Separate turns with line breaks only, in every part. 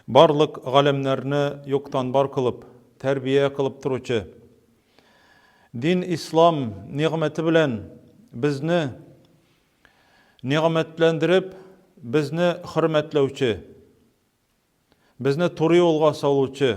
Барлык галәмнәрне юктан бар кылып, тәрбия кылып торучы дин ислам нигъмәте белән безне нигъмәтләндереп, безне хөрмәтләүче, безне туры юлга салучы,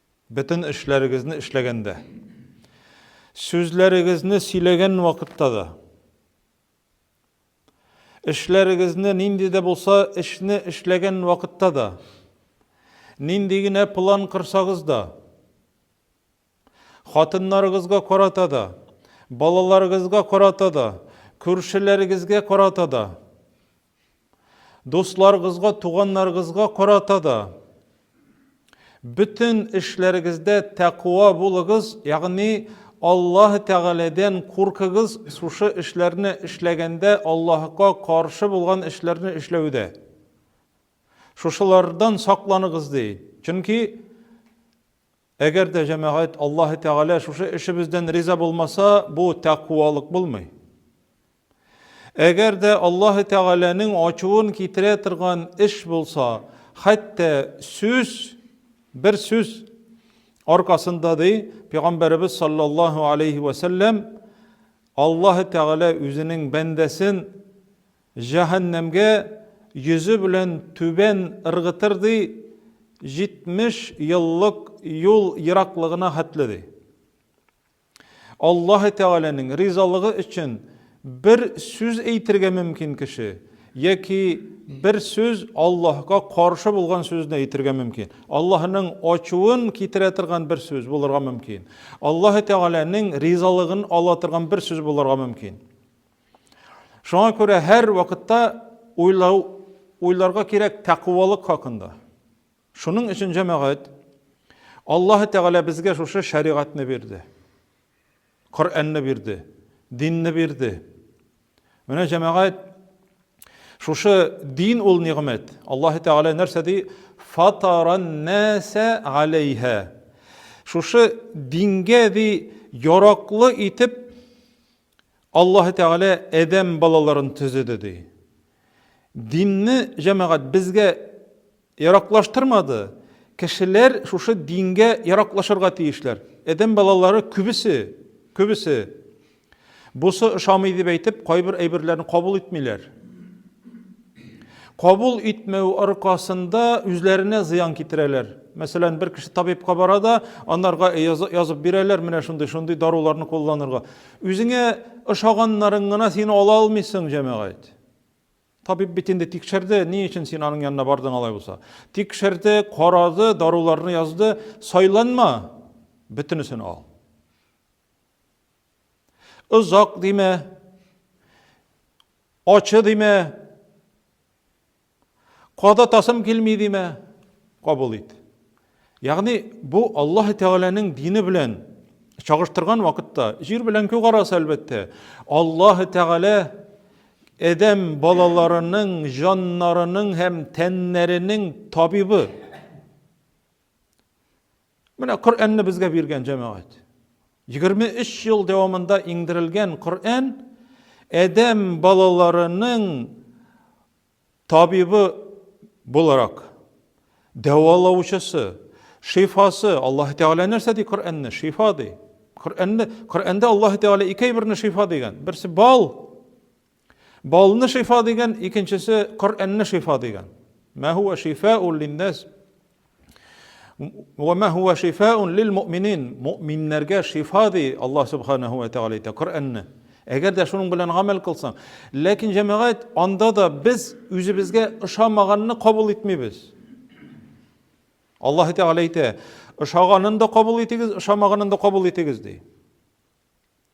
Бөтен эшләрегезне эшләгәндә, сүзләрегезне сөйләгән вакытта да, эшләрегезне нинди дә булса эшне эшләгән вакытта да, нинди генә план кырсагыз да, хатыннарыгызга карата да, балаларыгызга карата да, күршеләрегезгә карата да, Дусларыгызга, туганнарыгызга карата да бөтен эшләрегездә тәкъва булыгыз, ягъни Аллаһ Тәгаләдән куркыгыз, шушы эшләрне эшләгәндә Аллаһка каршы булган эшләрне эшләүдә. Шушылардан сакланыгыз ди. Чөнки Әгәр дә җәмәгать Аллаһы Тәгалә шушы эшебездән риза булмаса, бу тәкъвалык булмый. Әгәр дә Аллаһы Тәгаләнең ачуын китерә торган эш булса, хәтта сүз, бер сүз аркасында ди, Пәйгамбәребез саллаллаһу алейхи вә сәлләм Аллаһы Тәгалә үзенең бәндәсен Җәһәннәмгә йөзе белән түбән ыргытыр, ди, җитмеш еллык юл ераклыгына хәтле, ди. Аллаһы Тәгаләнең ризалыгы өчен бер сүз әйтергә мөмкин кеше, яки бер сүз Аллаһка каршы булган сүзне әйтергә мөмкин. Аллаһның ачуын китерә торган бер сүз булырга мөмкин. Аллаһы Тәгаләнең ризалыгын ала торган бер сүз булырга мөмкин. Шуңа күрә һәр вакытта уйлау, уйларга кирәк тәкъвалык хакында. Шуның өчен җәмәгать Аллаһы Тәгалә безгә шушы шәригатьне бирде. Коръәнне бирде, динне бирде. Менә җәмәгать шушы дин ул нигъмәт. Аллаһы Тәгалә нәрсә ди? Фатаран наса алейха. Шушы дингә ди яраклы итеп Аллаһы Тәгалә Адәм балаларын төзеде, ди. Динне, җәмәгать, безгә яраклаштырмады. Кешеләр шушы дингә яраклашырга тиешләр. Адәм балалары күбесе, күбесе бусы ошамый дип әйтеп, кайбер әйберләрне кабул итмиләр. Кабул итмәү аркасында үзләренә зыян китерәләр. Мәсәлән, бер кеше табибка бара да, анарга язып бирәләр, менә шундый, шундый даруларны кулланырга. Үзеңә ошаганнарын гына син ала алмыйсың, җәмәгать. Табиб бит инде тикшерде, ни өчен син аның янына бардың алай булса? Тикшерде, карады, даруларны язды, сайланма, бөтенесен ал. Озак димә, ачы димә, када тасым килми димә, кабул ит. Ягъни бу Аллаһ Тәгаләнең дине белән чагыштырган вакытта җир белән күк арасы әлбәттә. Аллаһ Тәгалә адәм балаларының җаннарының һәм тәннәренең табибы. Менә Коръәнне безгә биргән җәмәгать. 23 ел дәвамында иңдерелгән Коръән адәм балаларының табибы буларак дәвалаучысы, шифасы. Аллаһ Тәгалә нәрсә ди Коръәнне? Шифа ди. Коръәнне Коръәндә Аллаһ Тәгалә ике әйберне шифа дигән. Берсе бал, Балны шифа дигән, икенчесе Коръәнне шифа дигән. Ма хуа шифаун линнас ва ма хуа шифаун лил муъминин. Муъминнәргә шифа ди Аллаһ субханаһу ва тагала әйтә Коръәнне. Әгәр дә шуның белән гамәл кылсаң, ләкин җәмәгать анда да без үзебезгә ошамаганны кабул итмибез. Аллаһ Тәгалә әйтә, ошаганын да кабул итегез, ошамаганын да кабул итегез ди.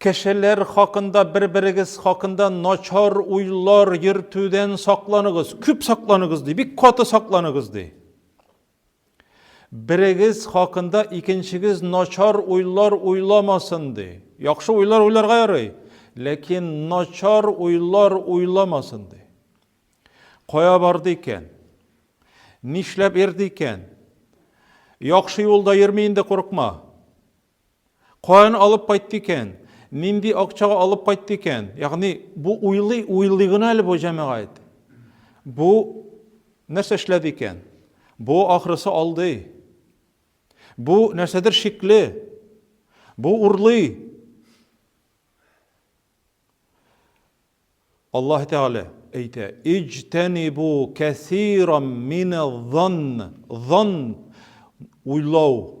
Кешеләр хакында, бер-берегез хакында начар уйлар йөртүдән сакланыгыз. Күп сакланыгыз ди, бик каты сакланыгыз ди. Берегез хакында икенчегез начар уйлар уйламасын ди. Яхшы уйлар уйларга ярый, ләкин начар уйлар уйламасын ди. Кая барды икән? Нишләп йөрде икән? Яхшы юлда йөрми инде, курыкма. Каян алып кайтты икән? Нинди акчага алып кайтты икән? Ягъни бу уйлый, уйлый гына әле бу җәмәгать. Бу нәрсә эшләде икән? Бу ахрысы алды. Бу нәрсәдер шикле. Бу урлый. Аллаһ Тәгалә әйтә: "Иҗтәнибу кәсирам миназ-занн". Занн уйлау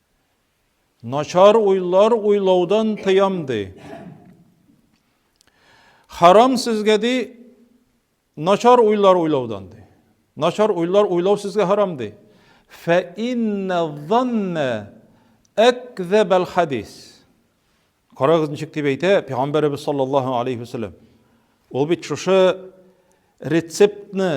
Начар уйлар уйлаудан тыям ди. Харам сезгә ди начар уйлар уйлаудан ди. Начар уйлар уйлау сезгә харам ди. Фә инна занна акзабал хадис. Карагыз ничек дип әйтә пәйгамбәребез саллаллаһу алейхи вәсәлләм. Ул бит шушы рецептны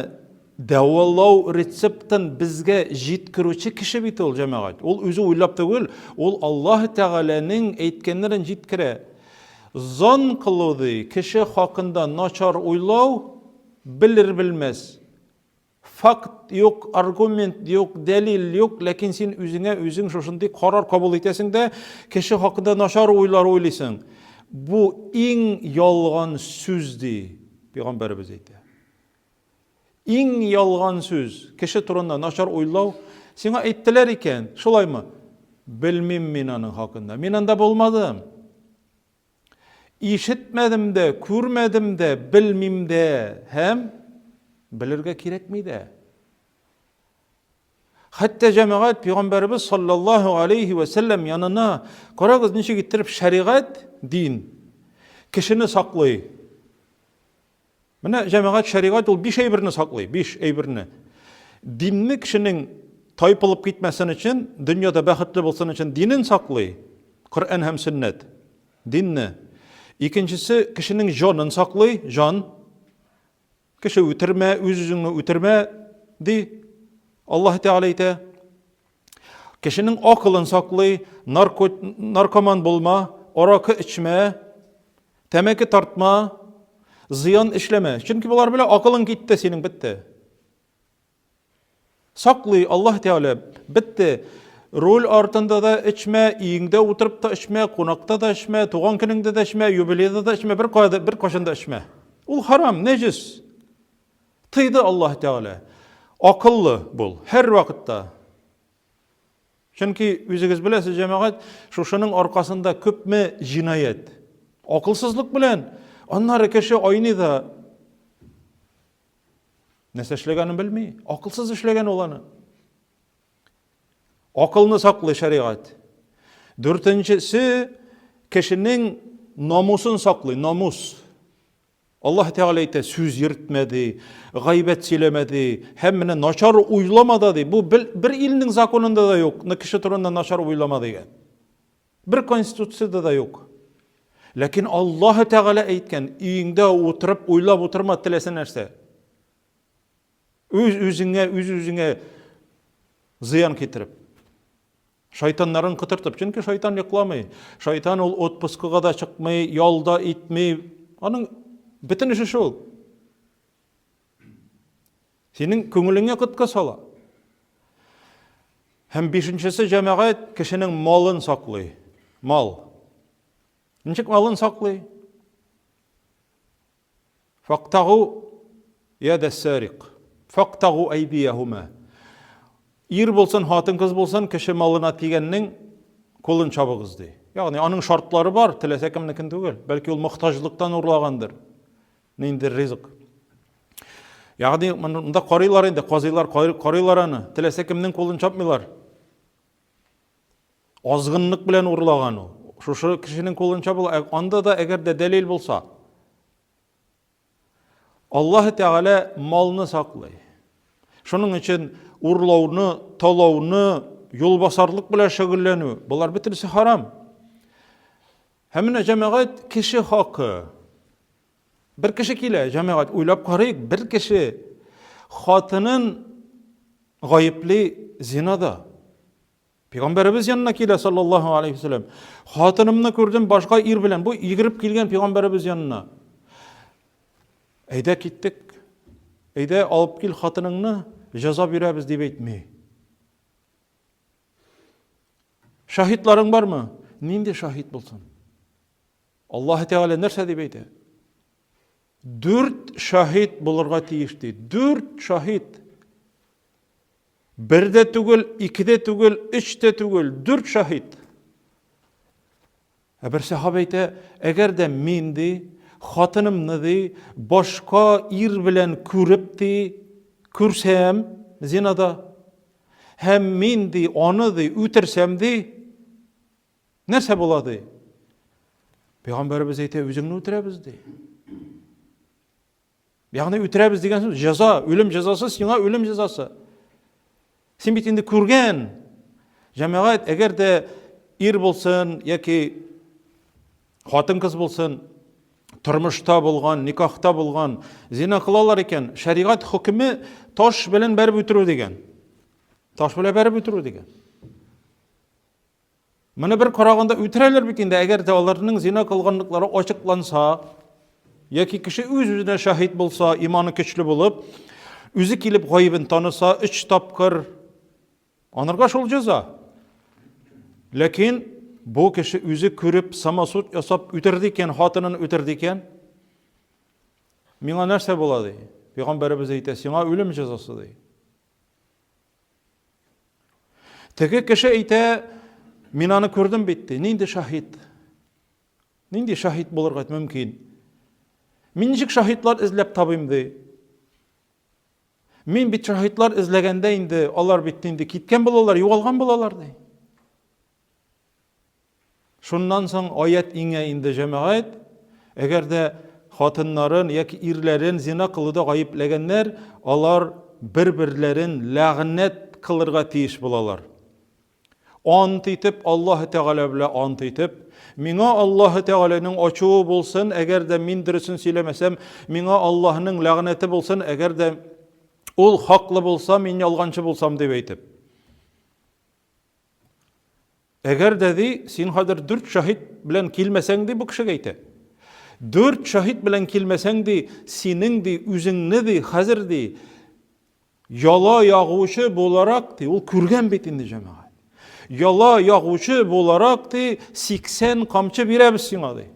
дәвалау рецептын безгә җиткерүче кеше бит ул җәмәгать. Ул үзе уйлап түгел, ул Аллаһ Тәгаләнең әйткәннәрен җиткерә. Зон кылу ди, кеше хакында начар уйлау, белер-белмәс. Факт юк, аргумент юк, дәлил юк, ләкин син үзеңә үзең шушындый карар кабул итәсең дә, кеше хакында начар уйлар уйлыйсың. Бу иң ялган сүз, ди Пәйгамбәребез әйтә. Иң ялган сүз, кеше турында начар уйлау. Сиңа әйттеләр икән, шулаймы? Белмим мин аның хакында. Мин анда булмадым. Ишетмәдем дә, күрмәдем дә, белмим дә һәм белергә кирәкми дә. Хәтта җәмәгать пәйгамбәребез саллаллаһу алейхи ва сәлләм янына карагыз ничек иттереп шәригать, дин кешене саклый. Менә җәмәгать шәригать ул биш әйберне саклый, биш әйберне. Динне кешенең тайпылып китмәсен өчен, дөньяда бәхетле булсын өчен динен саклый, Коръән һәм сөннәт. Динне. Икенчесе кешенең җанын саклый, җан. Кеше үтермә, үз-үзеңне үтермә, ди. Аллаһ Тәгалә әйтә. Кешенең акылын саклый, нарко, наркоман булма, аракы эчмә, тәмәке тартма, зыян эшләмә. Чөнки болар белән акылың китте, синең бетте. Саклый Аллаһ Тәгалә, бетте. Руль артында да эчмә, иңдә утырып та эчмә, кунакта да эчмә, туган көнеңдә дә эчмә, юбилейда да эчмә, бер кайда бер кашында эчмә. Ул харам, нәҗис. Тыйды Аллаһ Тәгалә, Акыллы бул, һәрвакытта. Чөнки, үзегез беләсез, җәмәгать, шушының аркасында күпме җинаять. Акылсызлык белән, аннары кеше айный да, нәрсә эшләгәнен белми, акылсыз эшләгән ул аны. Акылны саклый шәригать. Дүртенчесе, кешенең намусын саклый, намус. Аллаһ Тәгалә әйтә, сүз йөртмә ди, гайбәт сөйләмә ди, һәм менә начар уйлама да ди. Бу бер илнең законында да юк, кеше турында начар уйлама дигән. Бер конституцияда да юк. Ләкин Аллаһ Тәгалә әйткән, өеңдә утырып уйлап утырма теләсә нәрсә. Үз-үзеңә, үз-үзеңә зыян китереп. Шайтаннарын кытыртып. Чөнки шайтан йокламый. Шайтан ул отпускыга да чыкмый, ялда итми. Аның бөтен эше шул. Синең күңелеңә коткы сала. Һәм бишенчесе җәмәгать кешенең малын саклый. Мал. Ничек малын саклый? Фактагу яда сарик. Фактагу айдияхума. Ир булсын, хатын кыз булсын, кеше малына тигәннең кулын чабыгыз ди. Ягъни аның шартлары бар, теләсә кемнекен түгел. Бәлки ул мохтаҗлыктан урлагандыр. Нинди ризык. Ягъни монда карыйлар инде, казыйлар карыйлар аны. Теләсә кемнең кулын чапмыйлар. Азгынлык белән урлаган ул. Шушы кешенең кулынча була. Ә анда да әгәр дә дәлил булса, Аллаһ Тәгалә малны саклый. Шуның өчен урлауны, талауны, юлбасарлык белән шөгыльләнү, болар бөтенесе харам. Һәм менә җәмәгать кеше хакы. Бер кеше килә, җәмәгать, уйлап карыйк, бер кеше хатынын гаепли зинада. Пигамбәребез янына килә, саллаллаху алейхи вәсәләм. Хатынымны күрдем башка ир белән. Бу игереп килгән пигамбәребез янына. Әйдә киттек. Әйдә алып кил хатыныңны, җәза бирәбез дип әйтми. Шаһитларың бармы? Нинди шаһит булсын? Аллаһы Тәгалә нәрсә дип әйтә? Дүрт шаһит булырга тиеш ди. Дүрт шаһит. Бер дә түгел, ике дә түгел, өч тә түгел, дүрт шаһит. Ә бер сахабә әйтә, әгәр дә мин ди, хатынымны ди, башка ир белән күреп ди, күрсәм, зинада, һәм мин ди, аны ди, үтерсәм ди, Нәрсә була, ди? Пәйгамбәребез әйтә, үзеңне үтерәбез, ди. Ягъни үтерәбез дигән сүз, җәза, үлем җәзасы, сиңа үлем җәзасы. Син бит инде күргән. Җәмәгать, әгәр дә ир булсын яки хатын кыз булсын, тормышта булган, никахта булган, зина кылалар икән, шәригать хөкеме таш белән бәреп үтерү дигән. Таш белән бәреп үтерү дигән. Моны бер караганда үтерәләр бит инде, әгәр дә аларның зина кылганлыклары ачыкланса, яки кеше үз-үзенә шаһит булса, иманы көчле булып, үзе килеп гаебен таныса, өч тапкыр анырга шул җәза. Ләкин бу кеше үзе күреп, самосуд ясап үтерде икән, хатынын үтерде икән, миңа нәрсә була ди? Пәйгамбәребез әйтә, сиңа үлем җәзасы ди. Теге кеше әйтә, мин аны күрдем бит, ди. Нинди шаһит? Нинди шаһит булырга мөмкин? Мин ничек шаһитлар эзләп табыйм, ди. Мин бит шаһитлар эзләгәндә инде алар бит инде киткән булалар, югалган булалар, ди. Шуннан соң аять иңә инде, җәмәгать, әгәр дә хатыннарын яки ирләрен зина кылуда гаепләгәннәр, алар бер-берләрен ләгънәт кылырга тиеш булалар. Ант итеп, Аллаһы Тәгалә белән ант итеп, миңа Аллаһы Тәгаләнең ачуы булсын, әгәр дә мин дөресен сөйләмәсәм, миңа Аллаһының ләгънәте булсын, әгәр дә ул хаклы булса, мин ялганчы булсам, дип әйтеп. Әгәр дә, ди, син хәзер дүрт шаһит белән килмәсәң, ди, бу кешегә әйтә. Дүрт шаһит белән килмәсәң, ди, синең, ди, үзеңне, ди, хәзер, ди, яла ягучы буларак, ди, ул күргән бит инде җәмәгать. Яла ягучы буларак, ди, 80 камчы бирәбез сиңа, ди.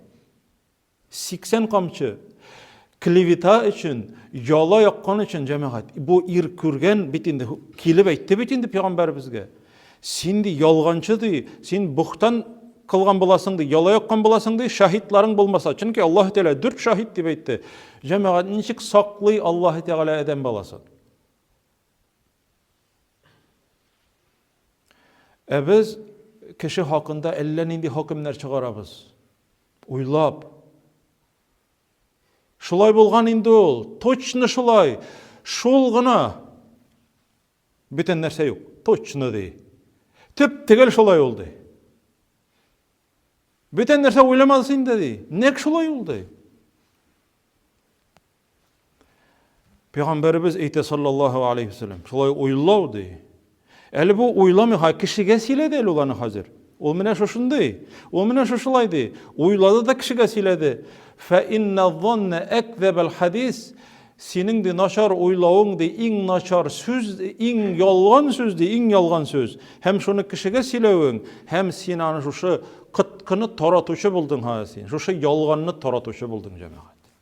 80 камчы! Клевета өчен, яла яккан өчен, җәмәгать. Бу ир күргән бит инде, килеп әйтте бит инде пәйгамбәребезгә. Син ди ялганчы ди, син бухтан кылган буласың ди, яла яккан буласың ди, шаһитларың булмаса. Чөнки Аллаһ Тәгалә дүрт шаһит дип әйтте. Җәмәгать, ничек саклый Аллаһ Тәгалә адәм баласын? Ә без кеше хакында әллә нинди хөкемнәр чыгарабыз. Уйлап. Шулай булган инде ул, точно шулай, шул гына. Бүтән нәрсә юк, точно ди. Төп тегел шулай ул ди. Бүтән нәрсә уйламадыз инде ди. Нәк шулай ул ди. Пәйгамбәребез әйтә саллаллаһу алейхи ва саллям, шулай уйлау ди. Әле бу уйламый, ха кешегә сөйләде әле ул аны хәзер. Ул менә шушындый. Ул менә шушылай ди. Уйлады да кешегә сөйләде. Фә инна донна әкзәбәл хадис. Синең ди начар уйлавың ди, иң начар сүз, иң ялган сүз ди, иң ялган сүз. Һәм шуны кешегә сөйләвең, һәм син аны шушы кыткыны таратучы булдың ха син. Шушы ялганны таратучы булдың, җәмәгать.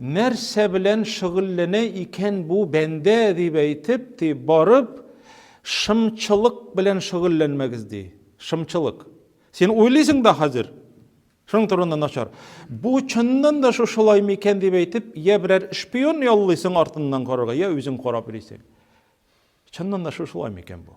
Нәрсә белән шөгыльләнә икән бу бәндә, дип әйтеп, ди, барып, шымчылык белән шөгыльләнмәгез, ди. Шымчылык. Син уйлыйсың да хәзер, шуның турында начар. Бу чыннан да шушылай микән дип әйтеп, я берәр шпион яллыйсың артыннан карарга, я үзең карап йөрисең. Чыннан да шушылай микән бу?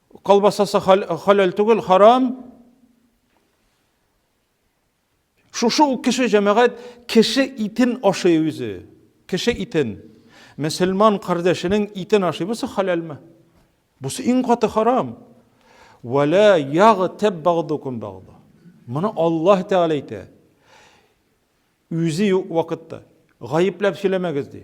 Колбасасы халәл түгел, харам. Шушы ук кеше җәмәгать кеше итен ашый үзе. Кеше итен. Мөселман кардәшенең итен ашый. Бусы халәлме? Бусы иң каты харам. Вәлә ягы тәб багдукум багда. Моны Аллаһ Тәгалә әйтә. Үзе юк вакытта. Гаепләп сөйләмәгез ди.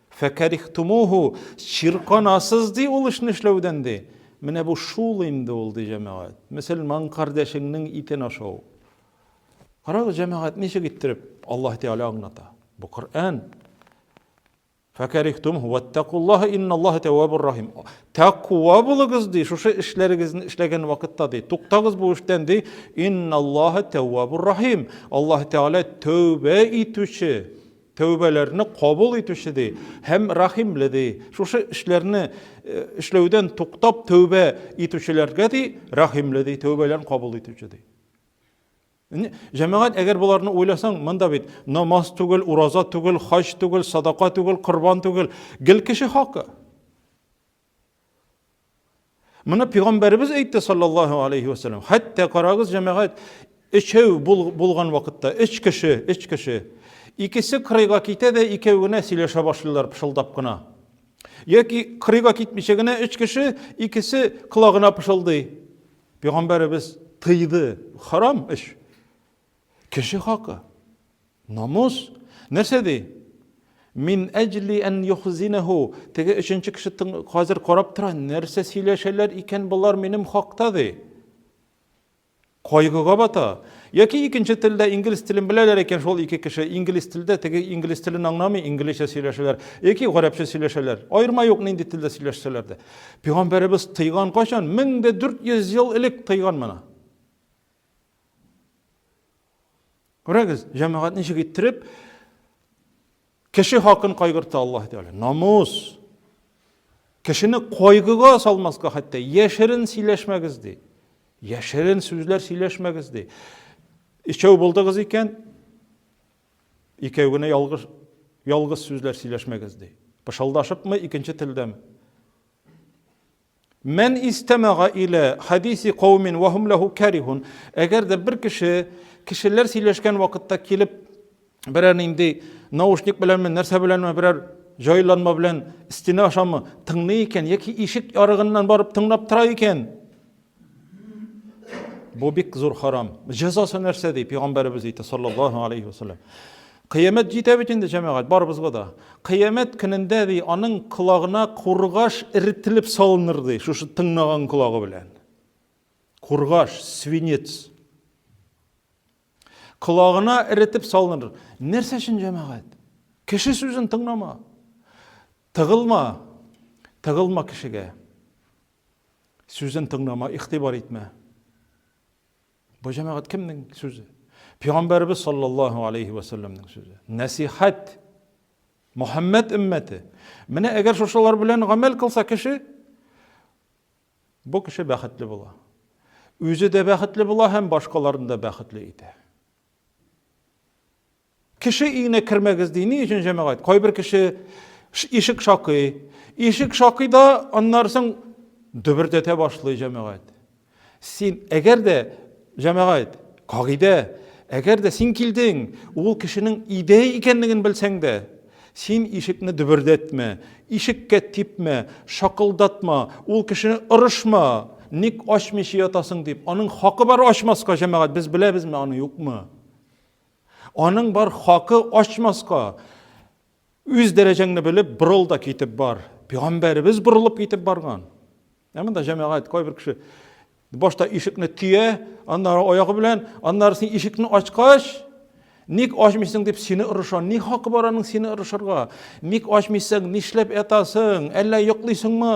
Фәкәрихтумуху, чирканасыз, ди, ул эшне эшләүдән, ди. Менә бу шул инде ул, ди, җәмәгать. Мөселман кардәшеңнең итен ашау. Карагыз, җәмәгать ничек иттереп Аллаһ Тәгалә аңлата. Бу Коръән. Фәкәрихтумуху ваттакуллаһа инналлаһа тәввабур рахим. Тәкъва булыгыз, ди, шушы эшләрегезне эшләгән вакытта, ди. Туктагыз бу эштән, ди. Инналлаһа тәввабур рахим. Аллаһ Тәгалә тәүбә итүче, тәүбәләрне кабул итүче ди һәм рәхимле ди. Шушы эшләрне эшләүдән туктап тәүбә итүчеләргә ди рәхимле ди, тәүбәләрен кабул итүче ди. Җәмәгать, әгәр боларны уйласаң, монда бит намаз түгел, ураза түгел, хаҗ түгел, садака түгел, корбан түгел, гел кеше хакы. Моны пигамбәребез әйтте саллаллаһу алейхи ва саллям. Хәтта карагыз җәмәгать, өчәү булган вакытта, өч кеше, өч кеше. Икесе кырыйга китә дә икәү генә сөйләшә башлыйлар пышылдап кына. Яки кырыйга китмичә генә өч кеше, икесе колагына пышылдый. Пигамбәребез тыйды. Харам эш. Кеше хакы. Намус. Нәрсә ди? Мин әҗли ән юхзинәһу. Теге өченче кеше хәзер карап тора, нәрсә сөйләшәләр икән болар минем хакта ди. Кайгыга бата. Яки икенче телдә инглиз телен беләләр икән шул ике кеше, инглиз телдә теге инглиз телен аңламый, инглизчә сөйләшәләр, яки гарәпчә сөйләшәләр. Аерма юк нинди телдә сөйләшсәләр дә. Пәйгамбәребез тыйган кайчан? 1400 ел элек тыйган моны. Күрәгез, җәмәгать ничек иттереп кеше хакын кайгырта Аллаһ Тәгалә. Намус. Кешене кайгыга салмаска хәтта яшерен сөйләшмәгез ди. Яшерен сүзләр сөйләшмәгез ди. Ичәү булдыгыз икән, икәү генә ялгыш ялгыз сүзләр сөйләшмәгез ди. Пышылдашыпмы икенче телдәме? Мән истәмәга илә хәдиси каумин вә һум ләһу кәрихун. Әгәр дә бер кеше кешеләр сөйләшкән вакытта килеп берәр нинди наушник беләнме, нәрсә беләнме, берәр җайланма белән стена ашамы тыңлый икән яки ишек ярыгыннан барып тыңлап тора икән, бу бик зур харам. Җәзасы нәрсә ди? Пәйгамбәребез әйтә, саллаллаһу алейхи ва саллям. Кыямәт җитә бит инде, җәмәгать, барыбызга да. Кыямәт көнендә, ди, аның колагына кургаш эретелеп салыныр, ди, шушы тыңнаган колагы белән. Кургаш, свинец. Колагына эретеп салыныр. Нәрсә өчен җәмәгать? Кеше сүзен тыңлама. Тыгылма. Тыгылма кешегә. Сүзен тыңлама, игътибар итмә. Бу җәмәгать кемнең сүзе? Пәйгамбәрбез саллаллаһу алейһи ва сәлләмнең сүзе. Нәсихәт. Мөхәммәд өммәте. Менә әгәр шушылар белән гамәл кылса кеше, бу кеше бәхетле була. Үзе дә бәхетле була һәм башкаларны да бәхетле итә. Кеше өенә кермәгез ди. Ни өчен җәмәгать? Кайбер кеше ишек шакый. Ишек шакый да аннары соң дөбердәтә башлый җәмәгать. Син әгәр дә җәмәгать, кагыйдә, әгәр дә син килдең, ул кешенең өйдә икәнлеген белсәң дә, син ишекне дөбердәтмә, ишеккә типмә, шакылдатма, ул кешене орышма. Ник ачмыйча ятасың дип, аның хакы бар ачмаска, җәмәгать, без беләбезме, аны юкмы? Аның бар хакы ачмаска. Үз дәрәҗәңне белеп, борыл да китеп бар. Пәйгамбәребез борылып китеп барган. Ә монда җәмәгать кайбер кеше башта ишекне төя, аннары аягы белән, аннары син ишекне ачкач, ник ачмыйсың дип сине ырыша. Ни хакы бар аның сине ырышырга? Ник ачмыйсың? Нишләп ятасың? Әллә йоклыйсыңмы?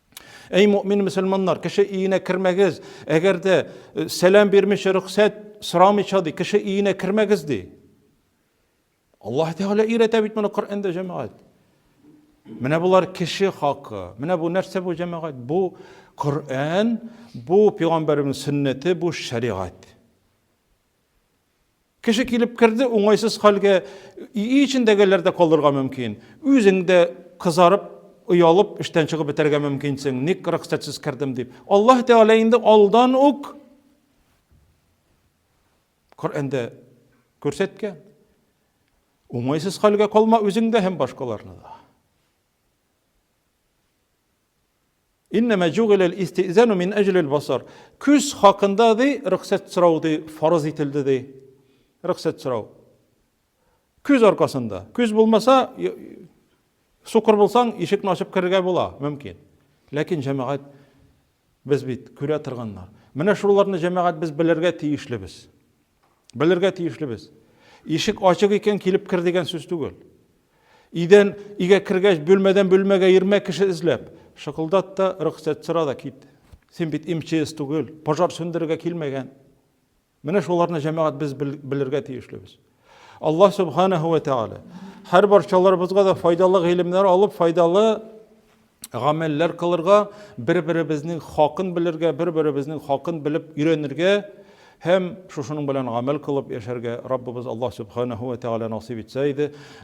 Әй мөмин мөселманнар, кеше өенә кермәгез, әгәр дә э, сәлам бирмичә рөхсәт сорамыйча ди, кеше өенә кермәгез ди. Аллаһ Тәгалә өйрәтә бит моны Коръәндә җәмәгать. Менә булар кеше хакы. Менә бу нәрсә бу җәмәгать? Бу Коръән, бу пәйгамбәрнең сөннәте, бу шәригать. Кеше килеп керде, уңайсыз хәлгә өй эчендәгеләр дә калырга мөмкин. Үзең дә кызарып, оялып, эштән чыгып бетәргә мөмкинсең. Ник рөхсәтсез кердем дип. Аллаһ Тәгалә инде алдан ук Коръәндә күрсәткән. Уңайсыз хәлгә калма үзең дә һәм башкаларны да. Иннәмә җугилә әл-истизану мин әҗли әл-басар. Күз хакында ди рөхсәт сорау ди фарыз ителде ди. Рөхсәт сорау. Күз аркасында. Күз булмаса, сукыр булсаң, ишекне ачып керергә була, мөмкин. Ләкин җәмәгать без бит күрә торганнар. Менә шуларны җәмәгать без белергә тиешлебез. Белергә тиешлебез. Ишек ачык икән, килеп кер дигән сүз түгел. Идән игә кергәч, бөлмәдән бөлмәгә ирмә кеше эзләп, шыкылдат та, рөхсәт сора да кит. Син бит МЧС түгел, пожар сүндерергә килмәгән. Менә шуларны җәмәгать без белергә тиешлебез. Алла субханаһу ва тааля һәр барчаларыбызга да файдалы гыйлемнәр алып, файдалы гамәлләр кылырга, бер-беребезнең хакын белергә, бер-беребезнең хакын белеп өйрәнергә һәм шушының белән гамәл кылып яшәргә Раббыбыз Аллаһ Субханаһу ва Тәгалә насыйп итсә иде.